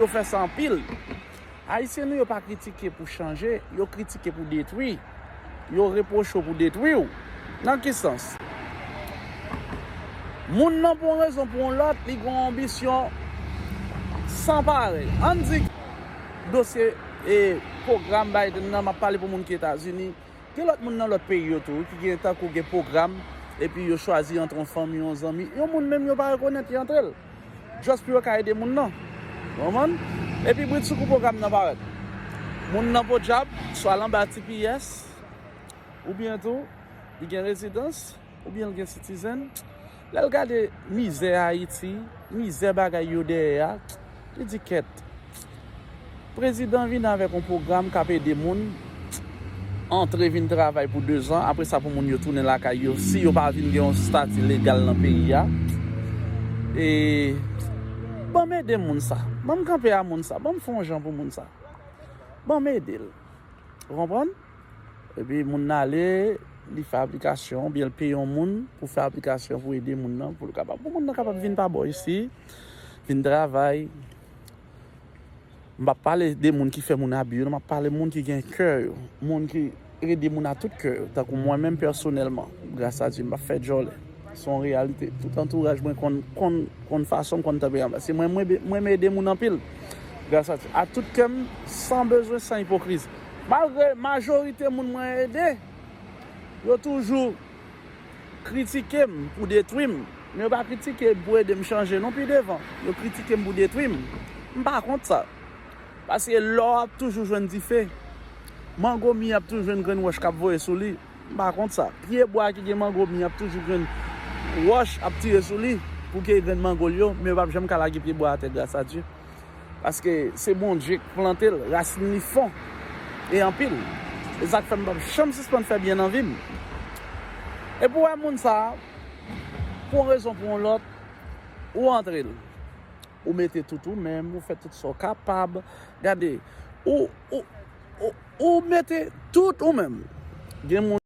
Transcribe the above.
Yo fè sa anpil. Ayisyen nou yo pa kritike pou chanje, yo kritike pou detwi. Yo repwoche w pou detwi w. Nan ki sans? Moun nan pou yon rezon pou yon lòt, li gen yon anbisyon san parèy. Ann di dosye pwogram Biden nan, m ap pale pou moun ki Etazini, gen lòt moun nan lòt peyi yo tou ki gen tankou gen pwogram epi yo chwazi antre yon fanmi, yon zanmi, yon moun menm yo pa rekonèt ki antre l. Just pou yo ka ede moun nan. Ou konprann? Epi bridsoukou pwogram nan parèt. Moun nan podyab swa l anba tps, oubyen tou li gen rezidans, oubyen l gen sitizèn. Lè l gade mizè Ayiti, mizè bagay yo dèyè a, li di kèt. Prezidan vini avèk yon pwogram kap ede moun antre vin travay pou 2 zan apre sa pou moun yo tounen lakay yo si yo pa vin gen yon stati legal nan peyi a e banm ede moun sa banm kanpe a moun sa banm fè yon jan pou moun sa banm ede l ou konprann epi moun nan ale li fè aplikasyon oubyen l peye yon moun pou fè aplikasyon pou ede moun nan pou l kapab pou moun nan kapab vin pa bò isi vin travay. M pa pale de moun ki fè moun abi yo non, m ap pale moun ki gen kè yo, moun ki ede moun a tout kè yo, tankou mwen menm pèsonèlman, gras a Dye m pa fè djòlè, se yon reyalite, tout antouraj mwen konn, konn fason m, konn tanperyan m, se mwen, m renmen ede moun anpil, gras a Dye, ak tout kè m, san bezwen, san ipokrizi, malgre majorite moun mwen ede, yo toujou. kritike m pou detwi m, men yo pa kritike m pou ede m chanje non pi devan. Yo kritike m pou detwi m. M pa kont sa. Paske lò ap toujou jwenn dife. Mango mi ap toujou jwenn grenn wòch k ap voye sou li. M pa kont sa. Pye bwa ki gen mango mi ap toujou jwenn wòch ap tire sou li pou keye grenn mango l yo, men yo pap janm ka lage pye bwa atè gras a Dye. Paske se Bondye k plante l, rasin li fon e anpil. E sa k fè m pap janm sispann fè byen nan vi m. Epi w wè moun sa, pou yon rezon pou yon lòt, ou antre l. Ou mete tout ou menm, ou fè tout sa w kapab. Gade, ou mete tout ou menm. Gen moun.